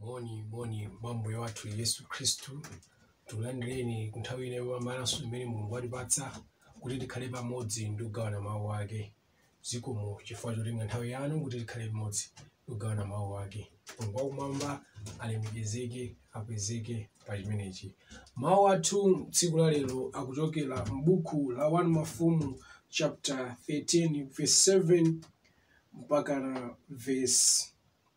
Moni, moni mwa Ambuye wathu Yesu Khristu. Tikulandireni ku nthawi ino yopambananso imene Mulungu watipatsa kuti tikhale pamodzi ndi kugawana mawu ake. Zikomo chifukwa chotenga nthawi yanu kuti tikhale pamodzi ndi kugawana mawu ake. Mulungu wakumwamba alemekezeke, akwezeke pa chimenechi. Mawu athu tsiku la lero akuchokera m'buku la 1 Mafumu chapter 13 verse 7 mpaka verse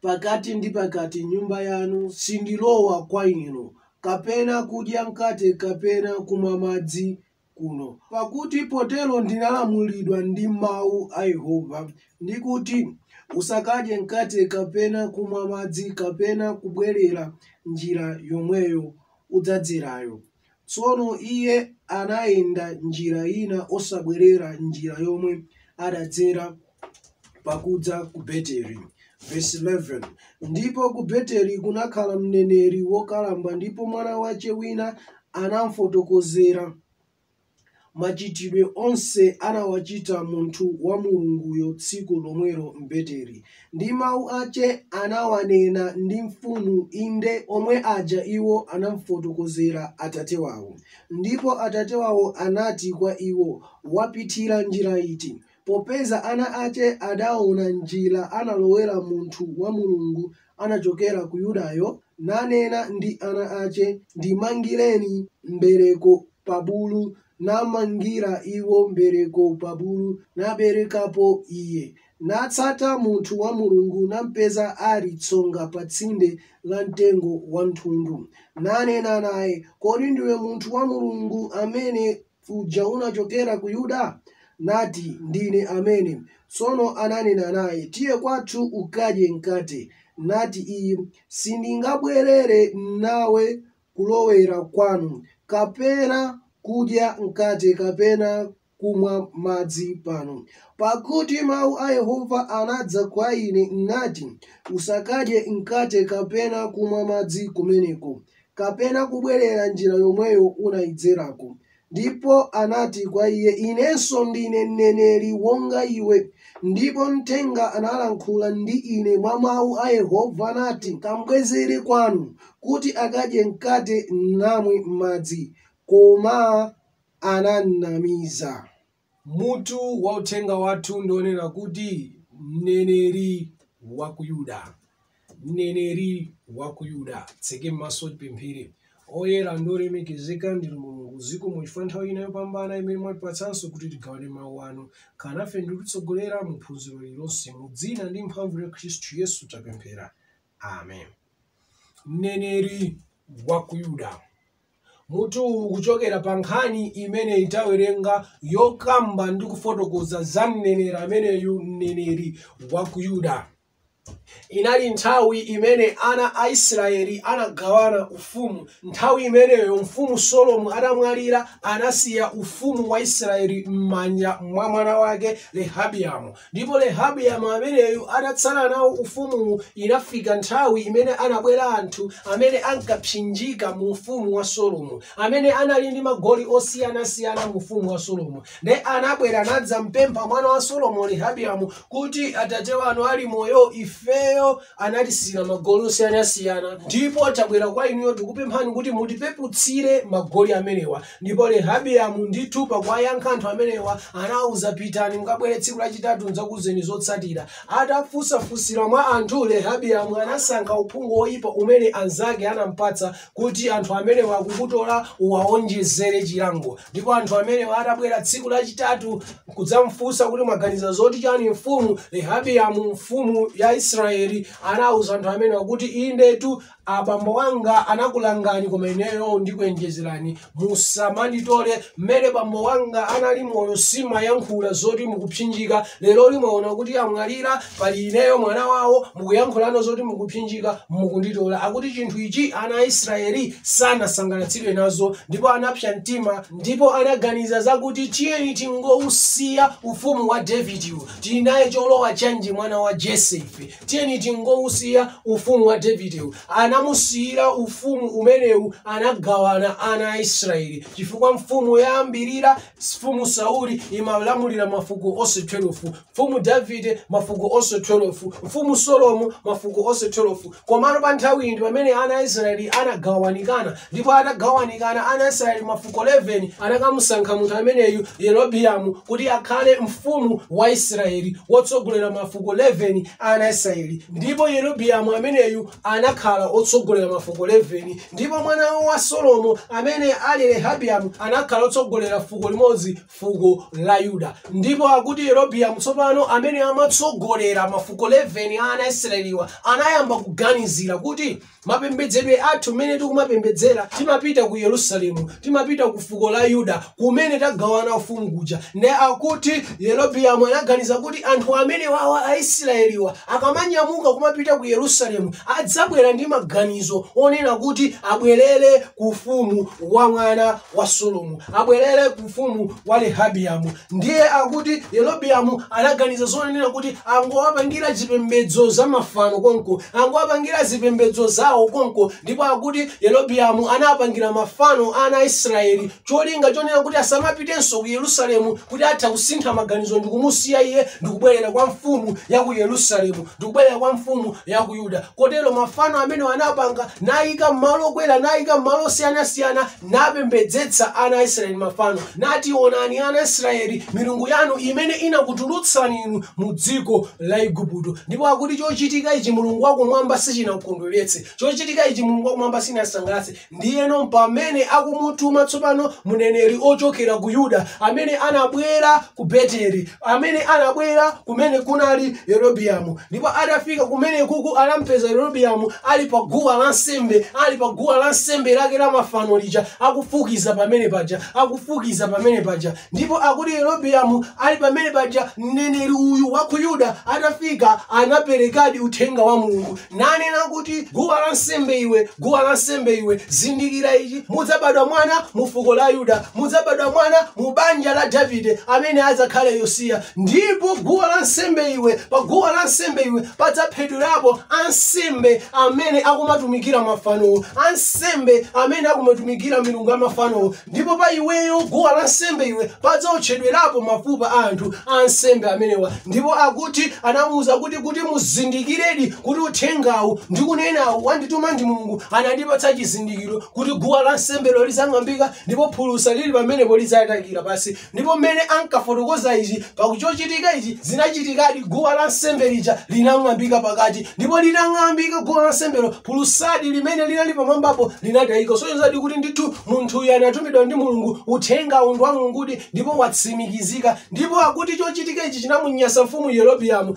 pakati ndi pakati m'nyumba yanu, sindilowa kwa inu, kapena kudya mkate kapena kumwa madzi kuno, pakuti potero ndinalamulidwa ndi mawu a Yehova, ndi kuti, Usakadye mkate kapena kumwa madzi kapena kubwerera njira yomweyo udzadzerayo. Tsono iye anayenda njira ina osabwerera njira yomwe adadzera pakudza ku Beteli. Vesi 11, Ndipo ku Beteli kunakhala mneneri wokalamba, ndipo mwana wache wina anamfotokozera. Machitidwe onse anawachita munthu wa Mulunguyo tsiku lomwelo m'Beteli, ndi mau ache anawanena ndi mfumu, inde omwe aja iwo anamfotokozera atate wao. Ndipo atate wao anati kwa iwo, Wapithira njira iti? Popeza ana ache adaona njira analowera munthu wa Mulungu anachokera ku Yudayo, nanena ndi ana ache, Ndimangireni mbereko pa bulu, namangira iwo mbereko pa bulu, naberekapo iye. Natsata munthu wa Mulungu, nampeza ali tsonga pa tsinde la mtengo wa mthundu, nanena naye, Kodi ndiwe munthu wa Mulungu amene uja unachokera ku Yuda? Nati, Ndine amene. Tsono ananena naye, Tiye kwathu ukadye mkate. Nati iye, Sindingabwerere nawe kulowera kwanu, kapena kudya mkate kapena kumwa madzi pano. Pakuti mau a Yehova anadza kwa ine, nati, Usakadye mkate kapena kumwa madzi kumeneko. kapena kubwerera njira yomweyo unaidzerako. Ndipo anati kwa iye, Inenso ndine mneneri wonga iwe, ndipo mthenga analankhula ndi ine mwa mau a Yehova, nati, Kambwezere kwanu, kuti akadye mkate namwe madzi. Koma anamnamiza. Mutu wa uthenga wathu ndi wonena kuti, Mneneri wa ku Yuda. Mneneri wa ku Yuda. Titseke maso tipemphere. Oyera ndi olemekezeka ndinu Mulungu, zikomo chifukwa nthawi ina yopambana imene mwatipatsanso kuti tigawane mawu anu. Khala nafe ndi kutitsogolera mu phunziro lililonse. Mu dzina ndi mphamvu ya Khristu Yesu tapemphera. amen mneneri wa ku yuda mutu uwu kuchokera pa nkhani imene tawerenga yokamba ndi kufotokoza za mneneri ameneyu mneneri wa ku yuda inali nthawi imene ana a israeli anagawana ufumu nthawi imeneyo mfumu solomo atamwalira anasiya ufumu wa israeli m'manja mwa mwana wake rehabiyamu Ndipo Rehabiamu ameneyu atatsala nawo ufumuwu, inafika nthawi imene anabwera anthu amene ankapsinjika mu ufumu wa Solomo, amene anali ndi magoli osiyanasiyana mu ufumu wa Solomo. Nde anabwera nadzampempha mwana wa Solomo Rehabiamu kuti, Atate wanu ali moyo, ifeyo anatisiira magoli osiyanasiyana ndipo tabwera kwa inuyo tikupemphani kuti mutipeputsire magoli amenewa ndipo rehabiamu ndithu pakuwayankha anthu amenewa anawuza pitani mukabwere tsiku lachitatu ndzakuzeni zotsatira atafunsafunsira mwa anthu rehabiamu anasankha uphungu woyipa umene anzake anampatsa kuti anthu amenewa akukutola uwaonjezere chilango ndipo anthu amenewa atabwera tsiku lachitatu kudzamfunsa kuti mwaganiza zoti chani mfumu rehabiyamu mfumu ya israeli anauza anthu amenewa kuti indetu abambo wanga anakulangani koma ineyo ndikuonjezerani musamanditole mmene bambo wanga anali moyo simayankhula zoti mukupsinjika lero lino mwaona kuti amwalira pali ineyo mwana wawo mukuyankhulano zoti mukupsinjika mukunditola akuti chinthu ichi ana a israeli sanasangalatsidwe nazo ndipo anapsa mtima ndipo anaganiza zakuti tiyeni tingousiya ufumu wa davidiwu tili naye cholowa chanji mwana wa jese ife tiyeni tingousiya ufumu wa davidewu anamusiyira ufumu umenewu anagawana ana a israeli chifukwa mfumu yoyambirira mfumu sauli imalamulira mafuko onse 12 mfumu davide mafuko onse 12 mfumu solomo mafuko onse 12 komano pa nthawi iyi ndi pamene ana a israeli anagawanikana Ndipo atagawanikana ana a Israeli mafuko 11, anakamusankha munthu ameneyu Yerobiamu kuti akhale mfumu wa Israeli, wotsogolera mafuko 11 a ana a Israeli. Ndipo Yerobiamu ameneyu anakhala otsogolera mafuko 11. Ndipo mwana wa Solomo, amene ali Rehabiamu, anakhala otsogolera fuko limodzi, fuko la Yuda. Ndipo akuti Yerobiamu tsopano, amene amatsogolera mafuko 11 a ana a Israeliwa, anayamba kuganizira kuti, Mapembedzedwe athu, mmene tikumapembedzera, timapita ku Yerusalemu, timapita ku fuko la Yuda kumene tagawana ufumu kuja. Nde akuti Yerobiamu anaganiza kuti anthu amenewawa Aisiraeliwa akamanyamuka kumapita ku Yerusalemu, adzabwera ndi maganizo onena kuti abwerere ku ufumu wa mwana wa Solomo, abwerere ku ufumu wa Rehabiamu. ndiye akuti yerobiamu anaganiza zonena kuti angowapangira zipembedzo za mafano konko angowapangira zipembedzo zawo konko ndipo akuti yerobiamu anapangira mafano ana a israeli cholinga chonena kuti asamapitenso ku yerusalemu kuti atha kusintha maganizo ndikumusiya iye ndikubwerera kwa mfumu ya ku yerusalemu ndikubwerera kwa mfumu ya ku yuda kotero mafano amene anapanga nayika m'malo okwera nayika m'malo osiyanasiyana napembedzetsa ana a Israyeli mafano, nati, Onani, ana a Israyeli, milungu yanu imene inakutulutsani inu mu dziko la Igupto. Ndipo akuti chochitika ichi Mulungu wakumwamba sichinamkondweretse, chochitika ichi Mulungu wakumwamba sichinamsangalatse. Ndiyeno pamene akumutuma tsopano mneneri ochokera ku Yuda amene anabwera ku Beteli amene anabwera kumene kunali yerobiamu ndipo atafika kumene kuku anampeza yerobiamu ali pa guwa la nsembe ali pa guwa la nsembe lake la mafano lija akufukiza pamene paja akufukiza pamene paja ndipo akuti yerobiamu ali pamene paja mneneri uyu wa ku yuda atafika anaperekadi uthenga wa mulungu nanena kuti, Guwa lansembe iwe, guwa lansembe iwe, zindikira ichi, mudzabadwa mwana mu fuko la Yuda, mudzabadwa mwana mu banja la Davide amene adzakhale Yosiya. Ndipo guwa lansembe iwe, pa guwa lansembe iwe padzaphedwerapo ansembe amene akumatumikira mafanowo, ansembe amene akumatumikira milungu ya mafanowo. Ndipo pa iweyo, guwa lansembe iwe, padzawotchedwerapo mafupa a anthu ansembe amenewa. Ndipo akuti anamuwuza kuti, kuti muzindikiredi kuti uthengawu ndikunenawu wandituma ndi Mulungu, anandipatsa chizindikiro kuti guwa lansembelo lidzang'ambika ndipo phulusa lili pamenepo lidzatayikira pansi. Ndipo mmene ankafotokoza ichi, pa chochitika ichi, zinachitikadi, guwa la nsembe lija linang'ambika pakati. Ndipo litang'ambika guwa la nsembelo, phulusadi limene linali pamwambapo linatayika. Kusonyezadi kuti ndithu munthuyu anatumidwa ndi Mulungu, uthengawu ndi wa Mulungudi ndipo watsimikizika. Ndipo akuti chochitika ichi chinamunyasa mfumu Yerobiamu.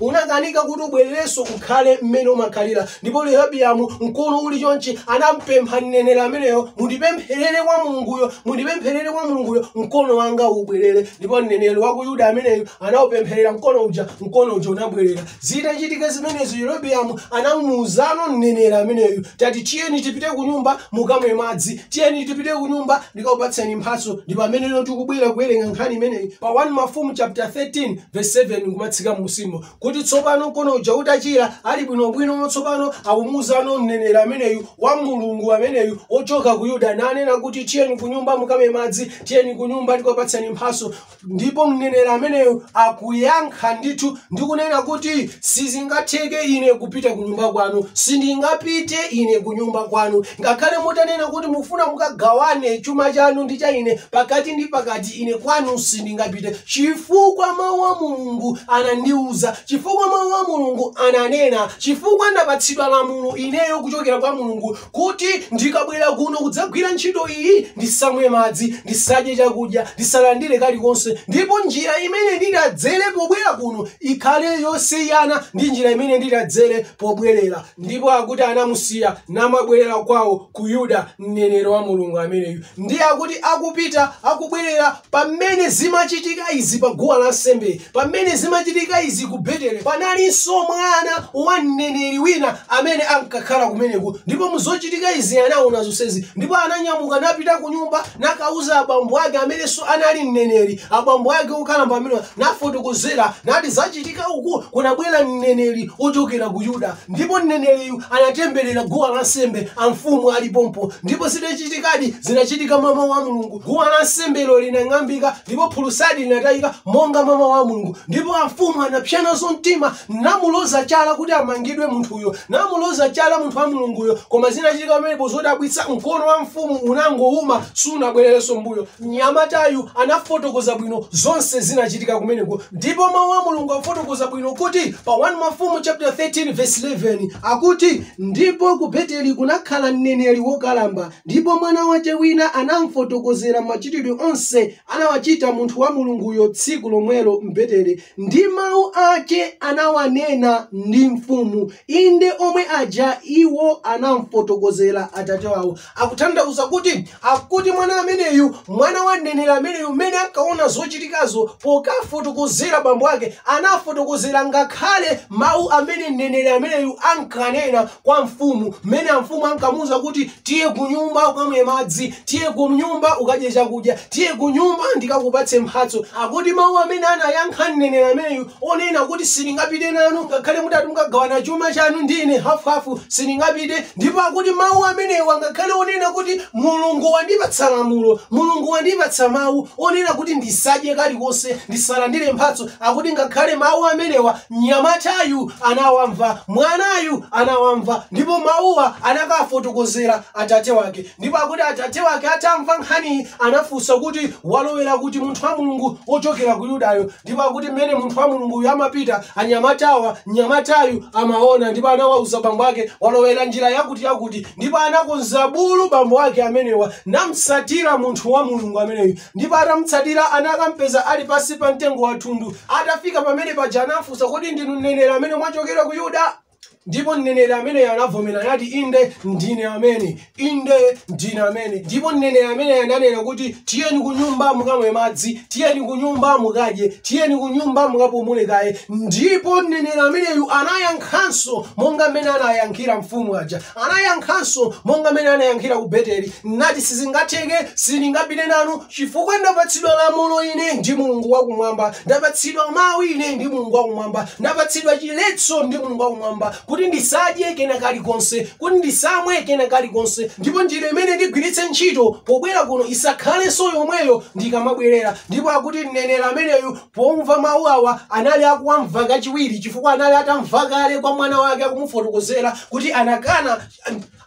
Unakanika kuti ubwererenso ukhale mmene umakhalira. Ndipo Yerobiamu, mkono uli chonchi, anampempha mneneri ameneyo, Mundipempherere kwa Mulunguyo, mundipempherere kwa Mulunguyo, mkono wanga ubwerere. Ndipo mneneri wa ku Yuda ameneyu anaupempherera mkono uja, mkono uja unabwerera. Zitachitika zimenezo, Yerobiamu anamuuzano mneneri ameneyu, Tati tiyeni tipite ku nyumba mukamwe madzi, tiyeni tipite ku nyumba ndikakupatseni mphatso. Ndi pamene tikubwera kuwerenga nkhani imeneyi pa 1 Mafumu chapter 13 verse 7 kumatsika munsimo kuti tsopano mkono uja utachira ali bwinobwino tsopano akumuuzano mneneri ameneyu wa mulungu ameneyu ochoka ku yuda nanena kuti tiyeni ku nyumba mukamwe madzi tiyeni ku nyumba ndikupatseni mphatso ndipo mneneri ameneyu akuyankha ndithu ndikunena kuti sizingatheke ine kupita ku nyumba kwanu sindingapite ine ku nyumba kwanu Ngakhale mutanena kuti mukufuna mukagawane chuma chanu ndi cha ine pakati ndi pakati, ine kwanu sindingapite, chifukwa mau a Mulungu anandiuza, chifukwa mau a Mulungu ananena, chifukwa ndapatsidwa lamulo ineyo kuchokera kwa Mulungu kuti ndikabwera kuno kudzagwira ntchito iyi, ndisamwe madzi, ndisadye chakudya, ndisalandire kalikonse, ndipo njira imene nditadzere pobwera kuno ikhale yosiyana ndi njira imene nditadzere pobwerera. Ndipo akuti anamusiya namabwerera kwawo ku Yuda, mneneri wa Mulungu ameneyu. Ndiye akuti akupita, akubwerera, pamene zimachitika izi pa guwa la nsembe, pamene zimachitika izi ku Betele, panalinso mwana wa mneneri wina amene ankakhala kumeneko. Ndipo mu zochitika izi anaona zonsezi, ndipo ananyamuka napita ku nyumba nakauza abambo ake amenenso anali mneneri, abambo ake okalamba amenewa, nafotokozera nati zachitika. ka uku kunabwera mneneri wochokera ku Yuda, ndipo mneneriyu anatemberera guwa lansembe, amfumu ali pompo. Ndipo zinachitikadi, zinachitika mwa mawu a Mulungu. Guwa lansembelo linang'ambika, ndipo phulusadi linatayika monga mwa mawu a Mulungu. Ndipo amfumu anapsa nazo mtima, namuloza chala kuti amangidwe munthuyo, namuloza chala munthu wa Mulunguyo. Koma zinachitika pamenepo zodabwitsa, mkono wa mfumu unangowuma, sunabwererenso m'mbuyo. Mnyamatayu anafotokoza bwino zonse zinachitika kumeneko ndipo Mawu a Mulungu afotokoza bwino kuti pa 1 Mafumu chaputala 13 vesi 11 akuti, Ndipo ku Beteli kunakhala mneneri wokalamba, ndipo mwana wace wina anamfotokozera machitidwe onse anawachita munthu wa Mulunguyo tsiku lomwelo m'Beteli, ndi mawu ace anawanena ndi mfumu, inde omwe aja iwo anamfotokozera atate wawo. Akutanthauza kuti akuti mwana ameneyu, mwana wa mneneri ameneyu mmene ankaona zochitikazo pokafotokozera bambo ake anafotokozera ngakhale mau amene mneneri ameneyu ankanena kwa mfumu mmene amfumu ankamuuza kuti tiye kunyumba ukamwe madzi, tiye kunyumba ukadye chakudya, tiye kunyumba ndikakupatse mphatso. Akuti mau amene anayankha mneneri ameneyu Onena kuti, Sindingapite nanu ngakhale mutati mukagawana chuma chanu ndi ine hafuhafu, sindingapite. Ndipo akuti mawu amenewa ngakhale onena kuti Mulungu wandipatsa lamulo, Mulungu wandipatsa mawu onena kuti ndisadye kalikonse, ndisalandire mphatso, akuti ngakhale mawu amenewa mnyamatayu anawamva, mwanayu anawamva, ndipo mawuwa anakafotokozera atate wake. Ndipo akuti atate wake atamva nkhaniyi anafunsa kuti, Walowera kuti munthu wa Mulungu wochokera ku Yudayo? Ndipo akuti mmene munthu wa Mulungu uyu amapita, anyamatawa, mnyamatayu amaona ndipo anawauza bambo ake, walowera njira yakuti yakuti, ndipo anakonza bulu bambo ake amenewa, namtsatira munthu wa Mulungu ameneyu, ndipo atamtsatira anakampeza ali pansi pa mtengo wa thundu. Atafika pamene paja anamfunsa, kodi ndinu mneneri amene mwachokera ku Yuda? ndipo mneneri ameneyo anavomera anati inde ndine amene inde ndine amene ndipo mneneri ameneyo ananena kuti tiyeni ku nyumba mukamwe madzi tiyeni ku nyumba mukadye tiyeni ku nyumba mukapumule kaye ndipo mneneri ameneyu anayankhanso monga mmene anayankhira mfumu aja anayankhanso monga mmene anayankhira ku beteli nati sizingatheke sindingapite nanu Chifukwa ndapatsidwa lamulo ine ndi Mulungu wakumwamba, ndapatsidwa mawu ine ndi Mulungu wakumwamba, ndapatsidwa chiletso ndi Mulungu wakumwamba kuti ndisadye kena kalikonse, kuti ndisamwe kena kalikonse, ndipo njira imene ndigwiritse ntchito pobwera kuno isakhalenso yomweyo ndikamabwerera. Ndipo akuti mneneri ameneyu pomva mawu awa anali akuwamva kachiwiri chifukwa anali atamva kale kwa mwana wake akumufotokozera kuti anakana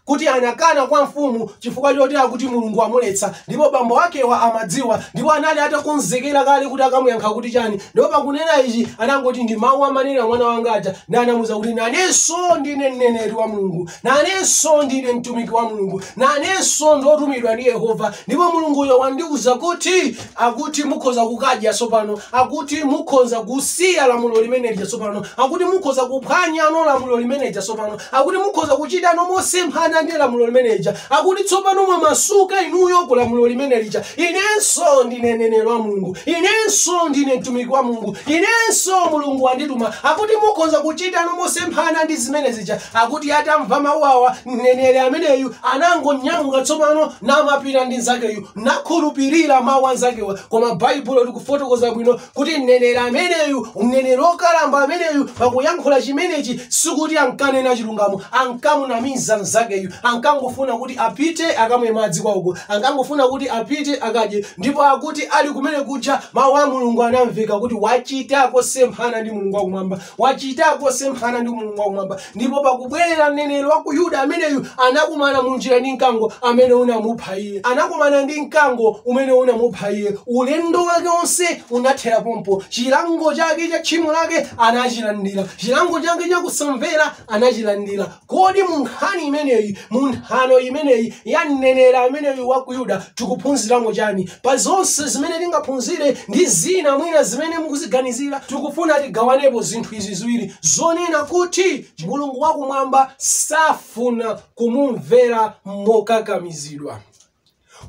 kuti anakana kwa mfumu chifukwa choti akuti Mulungu amuletsa ndipo bambo wakewa amadziwa ndipo anali atakonzekera kale kuti akamuyankha kuti chani ndipo pakunena ichi anangoti ndi mawu amanena mwana wanga aja na anamuuza kuti nanenso ndine mneneri wa Mulungu nanenso ndine mtumiki wa Mulungu nanenso ndotumidwa ndi Yehova ndipo Mulunguyo wandiuza kuti akuti mukhoza kukadya tsopano akuti mukhoza kusiya lamulo limene lija tsopano akuti mukhoza kuphwanyano lamulo limene lija tsopano akuti mukhoza kuchitano mosemphana ndi lamulo limene lija akuti tsopano mwamasuka inuyo ku lamulo limene lija inenso ndine mneneri wa mulungu inenso ndine mtumiki wa mulungu inenso mulungu wandituma akuti mukhoza kuchitano mosemphana ndi zimene zija akuti atamva mawu awa mneneri ameneyu anangonyamuka tsopano namapita ndi nzakeyu nakhulupirira mawu anzakewa koma baibulo likufotokoza bwino kuti mneneri ameneyu mneneri wokalamba ameneyu pakuyankhula chimenechi sikuti ankanena chilungamo ankamunamiza mnzakeyu ankangofuna kuti apite akamwe madzi kwawoko ankangofuna kuti apite akadye ndipo akuti ali kumene kuja mawu a mulungu anamveka kuti wachita kosemphana ndi mulungu wakumwamba wachita kosemphana ndi mulungu wakumwamba ndipo pakubwerera mneneri wa ku yuda ameneyu anakumana mu njira ndi mkango amene unamupha iye anakumana ndi mkango umene unamupha iye ulendo wake wonse unathera pompo chilango chake cha tchimo lake anachilandira chilango chake cha kusamvera anachilandira kodi mu nkhani imeneyi mu nthano imeneyi ya mneneri ameneyu wa ku yuda tikuphunziramo chani pa zonse zimene tingaphunzire ndi zina mwina zimene mukuziganizira tikufuna tigawanepo zinthu izi ziwiri zonena kuti mulungu wakumwamba safuna kumumvera mokakamizidwa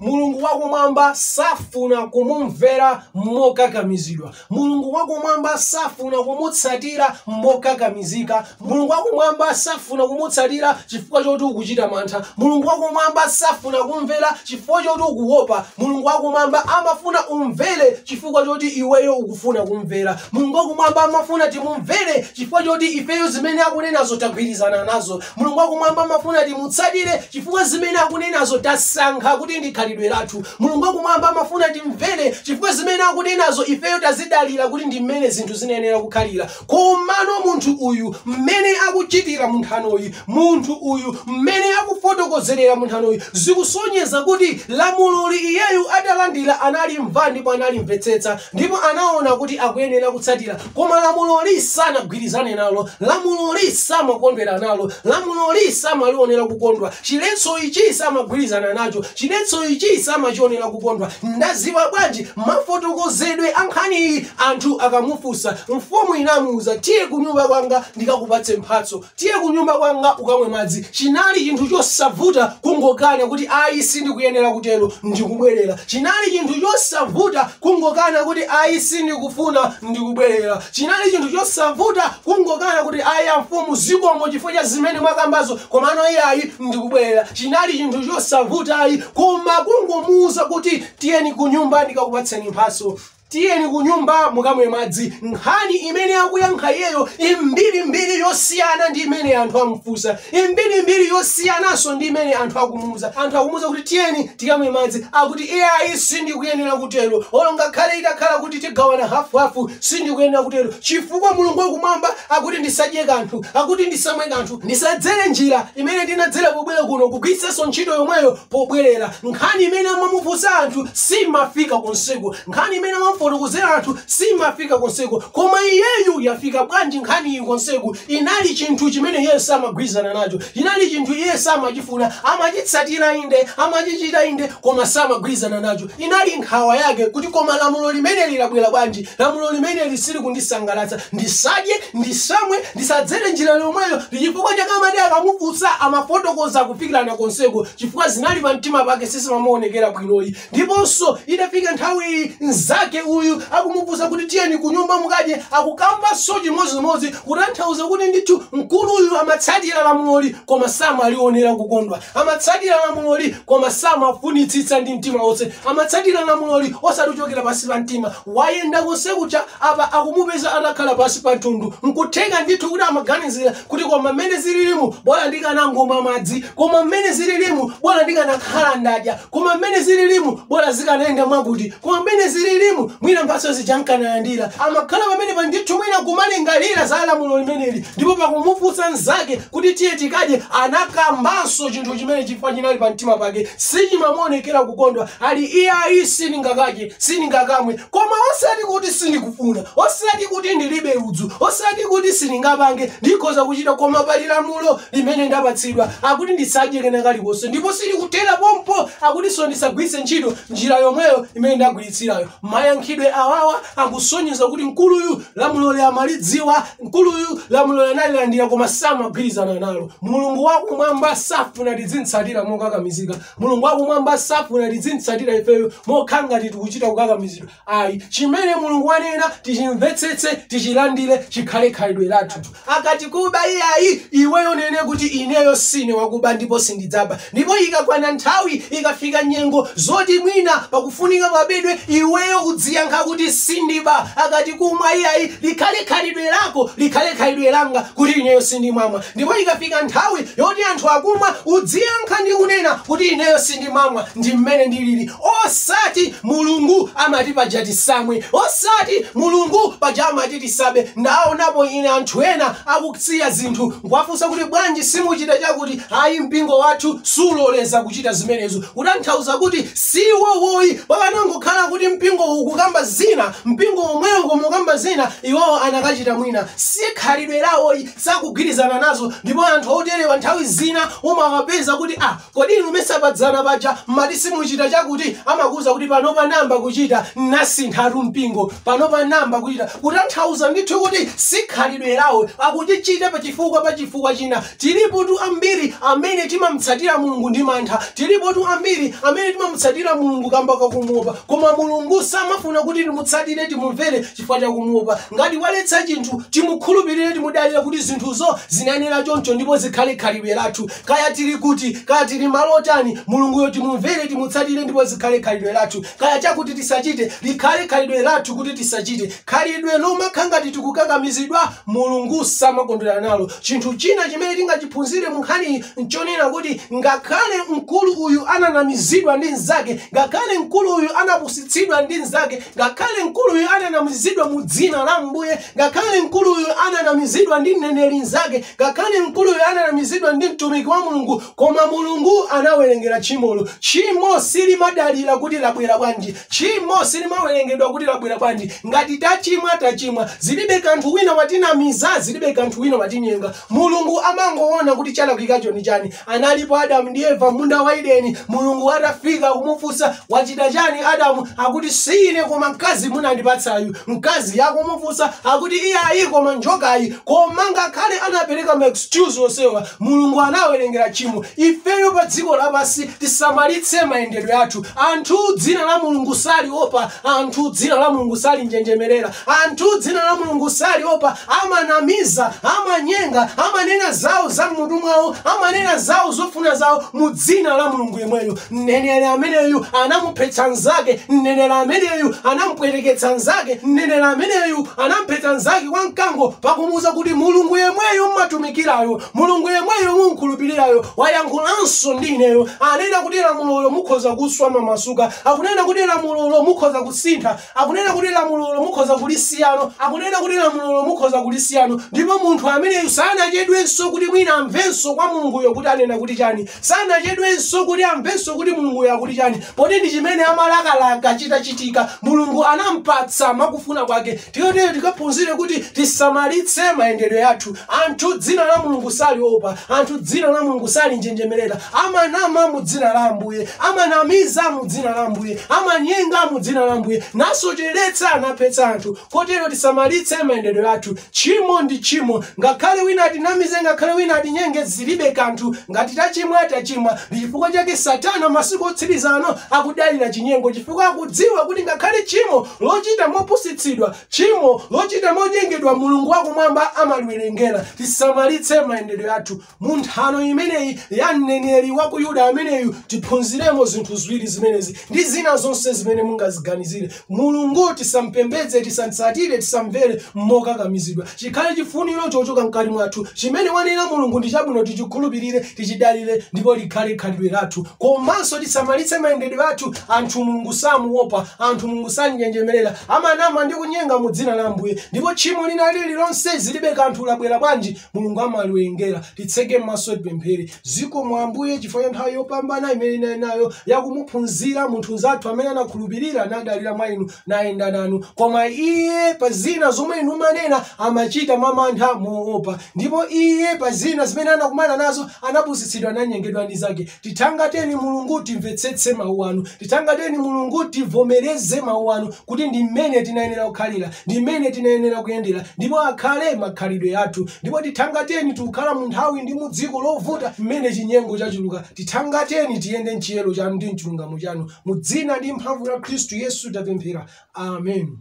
mulungu wakumwamba safuna kumumvera mokakamizidwa mulungu wakumwamba safuna kumutsatira mokakamizika mulungu wakumwamba safuna kumutsatira chifukwa choti ukuchita mantha mulungu wakumwamba safuna kumvera chifukwa choti ukuopa mulungu wakumwamba amafuna umvere chifukwa choti iweyo ukufuna kumvera mulungu wakumwamba amafuna timumvere chifukwa choti ifeyo zimene akunenazo tagwirizana nazo Mulungu wakumwamba amafuna timutsatire chifukwa zimene akunenazo tasankha kuti ndi khalidwe lathu. Mulungu wakumwamba amafuna timvere chifukwa zimene akunenazo ifeyo tazidalira kuti ndi mmene zinthu zinayenera kukhalira. Komano munthu uyu mmene akuchitira mu nthanoyi, munthu uyu mmene akufotokozerera mu nthanoyi, zikusonyeza kuti lamuloli iyeyu atalandira analimva ndipo analimvetsetsa ndipo anaona kuti akuyenera kutsatira. koma lamuloli sanagwirizane nalo lamuloli samakondwera nalo lamuloli samalionera kukondwa chiletso ichi samagwirizana nacho chiletso ichi samachionera kukondwa ndaziwa bwanji mafotokozedwe a nkhaniyi anthu akamufunsa mfumu inamuuza tiye kunyumba kwanga ndikakupatse mphatso Tiye kunyumba kwanga ukamwe madzi. Chinali chinthu chosavuta kungokana kuti, Ayi, sindikuyenera kutero, ndi kubwerera. Chinali chinthu chosavuta kungokana kuti, Ayi, sindikufuna, ndi kubwerera. Chinali chinthu chosavuta kungokana kuti, Ayi, amfumu, zikomo chifukwa cha zimene mwakambazo, komano iyayi, ndi kubwerera. Chinali chinthu chosavuta, ayi, koma kungomuuza kuti, Tiyeni kunyumba ndikakupatseni mphatso. Tiyeni kunyumba mukamwe madzi. Nkhani imene akuyankha iyeyo imbirimbiri yosiyana ndi imene anthu amufunsa, imbirimbiri yosiyananso ndi imene anthu akumuuza. Anthu akumuuza kuti tiyeni tikamwe madzi, akuti iyayi sindikuyenera kutero, olo ngakhale itakhala kuti tigawana hafuhafu sindikuyenera kutero, chifukwa Mulungu wakumwamba akuti ndisadye kanthu, akuti ndisamwe kanthu, ndisadzere njira imene ndinadzera pobwera kuno, kugwiritsanso ntchito yomweyo pobwerera. Nkhani imene amamufunsa anthu simafika konseku, nkhani imene amamufotokozera anthu simafika konseku, koma iyeyu yafika bwanji nkhaniyi konseku? Inali chinthu chimene iye samagwirizana nacho, chinali chinthu iye samachifuna, amachitsatira inde, amachichita inde, koma samagwirizana nacho. Inali nkhawa yake kuti, Koma lamulo limeneli labwera bwanji? Lamulo limeneli silikundisangalatsa. Ndisadye, ndisamwe, ndisadzere njira yomweyo. Ndi chifukwa chake amati akamufunsa amafotokoza kufikirana konseko, chifukwa zinali pamtima pake sizimamuonekera bwinoyi. Ndiponso, itafika nthawi, mnzake uyu akumufunsa kuti, Tiyeni kunyumba mukadye, akukambanso chimodzimodzi, kutanthauza kuti ndithu mkuluyu amatsatira lamuloli koma samalionera kukondwa. Amatsatira lamuloli koma samafunitsitsa ndi mtima wonse. Amatsatira lamuloli osati kuchokera pansi pa mtima. Wayenda konse kuja, apa akumupeza atakhala pansi pa mtundu. N'kutheka ndithu kuti amaganizira kuti, Koma mmene zililimu, bola ndikanangomwa madzi. Koma mmene zililimu, bola ndikanakhala ndadya. Koma mmene zililimu, bola zikanayenda mwakuti. Koma mmene zililimu, mwina mphatso zija n'kanalandira. Amakhala pamenepa ndithu mwina kumalingalira za lamulo limeneli ndipo pakumufunsa mnzake kuti tiye tikadye, anakambanso chinthu chimene chifukwa chinali pa mtima pake sichimamuonekera kukondwa ali iyayi sindingakadye sindingakamwe koma osati kuti sindikufuna osati kuti ndilibe ludzu osati kuti sindingapange ndikhoza kuchita koma pali lamulo limene ndapatsidwa akuti ndisadye kena kalikonse ndipo silikuthera pompo akutinso ndisagwiritse ntchito njira yomweyo imene ndagwiritsirayo mayankhidwe awawa akusonyeza kuti mkuluyu lamuloli amalidziwa mkuluyu lamulo analilandira koma samagwirizana nalo mulungu wakumwamba safuna tidzimtsatira mokakamizika mulungu wakumwamba safuna tidzimtsatira ifeyo mokhala ngati tikuchita kukakamizidwa ayi chimene mulungu wanena tichimvetsetse tichilandire chikhale khalidwe lathu akati kuba iyayi iweyo unene kuti ineyo sine wakuba ndipo sindidzaba Ndipo ikakwana nthawi, ikafika nyengo zoti mwina pakufunika pabedwe, iweyo udziyankha kuti, Sindiba. Akati, Kumwa iyayi, likhale khalidwe lako, likhale khalidwe langa kuti ineyo sindimamwa. Ndipo ikafika nthawi yoti anthu akumwa, udziyankha ndi kunena kuti, Ineyo sindimamwa, ndi mmene ndilili. Osati, Mulungu amati paja tisamwe. Osati, Mulungu paja amati tisabe. Ndaonapo ine anthu ena akusiya zinthu Nkuwafunsa kuti bwanji simuchita chakuti, ayi mpingo wathu suloleza kuchita zimenezo, kutanthauza kuti si iwowoyi pakanangokhala kuti mpingowu ukukamba zina mpingo womwewo koma ukamba zina iwowo anakachita mwina. Sikhalidwe lawoyi, sakugwirizana nazo ndipo anthu oterewa nthawi zina umawapeza kuti ah, Kodi inu mesa padzana paja mmati simuchita chakuti amakuuza kuti panopa nayamba kuchita nasinthatu mpingo panopa nayamba kuchita kutanthauza ndithu kuti si khalidwe lawo akuchichita pachifukwa pa chifukwa china tilipotu ambiri amene timamtsatira Mulungu ndi mantha tilipotu ambiri amene timamutsatira Mulungu kamba kakumuopa koma Mulungu samafuna kuti timutsatire timumvere chifukwa chakumuopa ngati waletsa chinthu timukhulupirire timudalire kuti zinthuzo zinayenera choncho ndipo zikhale khalidwe lathu Kaya tili kuti, kaya tili malo otani, Mulunguyo timumvere, timutsatire ndipo zikhale khalidwe lathu. Kaya chakuti tisachite, likhale khalidwe lathu kuti tisachite. Khalidwe lomakhala ngati tikukakamizidwa, Mulungu samakondwera nalo. Chinthu china chimene tingachiphunzire mu nkhaniyi n'chonena kuti ngakhale mkulu uyu ananamizidwa ndi mnzake, ngakhale mkulu uyu anapusitsidwa ndi mnzake, ngakhale mkulu uyu ananamizidwa mu dzina la Mbuye, Ngakhale mkuluyu ananamizidwa ndi mneneri mzake, ngakhale mkuluyu ananamizidwa ndi mtumiki wa Mulungu, koma Mulungu anawerengera tchimolo. Tchimo silimadalira kuti labwera bwanji. Tchimo silimawerengedwa kuti labwera bwanji. Ngati tachimwa, tachimwa. Zilibe kanthu wina watinamiza, zilibe kanthu wina watinyenga. Mulungu amangowona kuti chalakwikacho ndi chani. analipo adamu ndi eva munda wa edeni mulungu atafika kumufunsa wachita chani adamu akuti si ine koma mkazi munandipatsayu mkazi akumufunsa akuti iyayi koma njokayi koma ngakhale anapereka ma excuse onsewa mulungu anawerengera tchimo ifeyo pa dziko lapansi tisamalitse mayendedwe athu anthu dzina la mulungu saliopa anthu dzina la mulungu salinjenjemerera Anthu dzina la Mulungu saliopa, amanamiza, amanyenga, amanena zawo za m'mutu mwawo, amanena zawo zofuna zawo mu dzina la Mulungu yemweyo. Mneneri ameneyu anamuphetsa mnzake, mneneri ameneyu anamupwereketsa mnzake, mneneri ameneyu anamphetsa mnzake kwa mkango pakumuuza kuti Mulungu yemweyo m'matumikirayo, Mulungu yemweyo mumkhulupirirayo wayankhulanso ndi ineyo, anena kuti lamulolo mukhoza kuswa mwamasuka, akunena kuti lamulolo mukhoza kusintha. Akunena kuti lamulolo mukhoza kulisiyano, akunena kuti lamulolo mukhoza kulisiyano, ndipo munthu ameneyu sanachedwenso kuti mwina amvenso kwa Mulunguyo kuti anena kuti chani, sanachedwenso kuti amvenso kuti Mulunguyo akuti chani, poti ndi chimene amalakalaka chitachitika, Mulungu anampatsa mwakufuna kwake, tiyo tero tikaphunzire kuti tisamalitse mayendedwe athu, anthu dzina la Mulungu saliopa, anthu dzina la Mulungu salinjenjemerera, amanama mu dzina la ambuye amanamiza mu dzina la ambuye amanyenga mu dzina la ambuye nasocheretsa naphetsa anthu kotero tisamalitse mayendedwe athu tchimo ndi tchimo ngakhale wina atinamize ngakhale wina atinyenge zilibe kanthu ngati tachimwa tachimwa ndi chifukwa chake satana masiku otsiriza ano akudalira chinyengo chifukwa akudziwa kuti ngakhale tchimo lochita mopusitsidwa tchimo lochita monyengedwa mulungu wakumwamba amaliwerengera tisamalitse mayendedwe athu Mu nthano imeneyi ya mneneri wa ku Yuda ameneyu tiphunziremo zinthu ziwiri zimenezi ndi zina zonse zimene mungaziganizire. Mulungu tisampembedze, tisamtsatire, tisamvere mokakamizidwa. Chikhale chifuniro chochoka mkati mwathu. Chimene wanena Mulungu ndi chabwino tichikhulupirire, tichidalire ndipo likhale khalidwe lathu. Komanso tisamalitse mayendedwe athu. Anthu Mulungu samuopa, anthu Mulungu samnjenjemerera. Amanama ndi kunyenga mu dzina la Ambuye. Ndipo tchimo lina lililonse zilibe kanthu labwera bwanji, mulungu amaliwerengera titseke m'maso tipemphere zikomo ambuye chifukwa cha nthawi yopambana imene tinali nayo yakumuphunzira munthu mnzathu amene anakhulupirira nadalira mwa inu nayenda nanu koma iye pa zina zomwe inu mmanena amachita mwa mantha moopa ndipo iye pa zina zimene anakumana nazo anapusitsidwa nanyengedwa ndi mnzake Tithangateni Mulungu timvetsetse Mawu Anu. Tithangateni Mulungu tivomereze Mawu Anu kuti ndi mmene tinayenera kukhalira, ndi mmene tinayenera kuyendera, ndipo akhale makhalidwe athu. Ndipo tithangateni tikukhala mu nthawi ndi mu dziko lovuta mmene chinyengo chachuluka. Tithangateni tiyende m'chiyero Chanu ndi m'chilungamo Chanu. Mu dzina ndi mphamvu la Khristu Yesu tapemphera. Amen.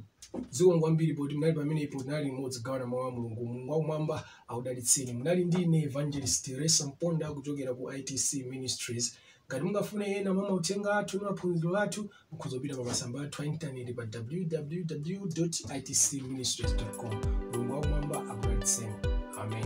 Zikomo kwambiri poti munali pamenepo, tinali limodzi kugawana Mawu a Mulungu. Mulungu wakumwamba akudalitseni. Munali ndi ine Evangelist Teresa Mponda kuchokera ku ITC Ministries. Ngati mungafune ena mwa mauthenga athu ndi maphunziro athu, mukhoza kupita pa masamba athu a intaneti pa www.itcministries.com. Mulungu wakumwamba akudalitseni. Amen.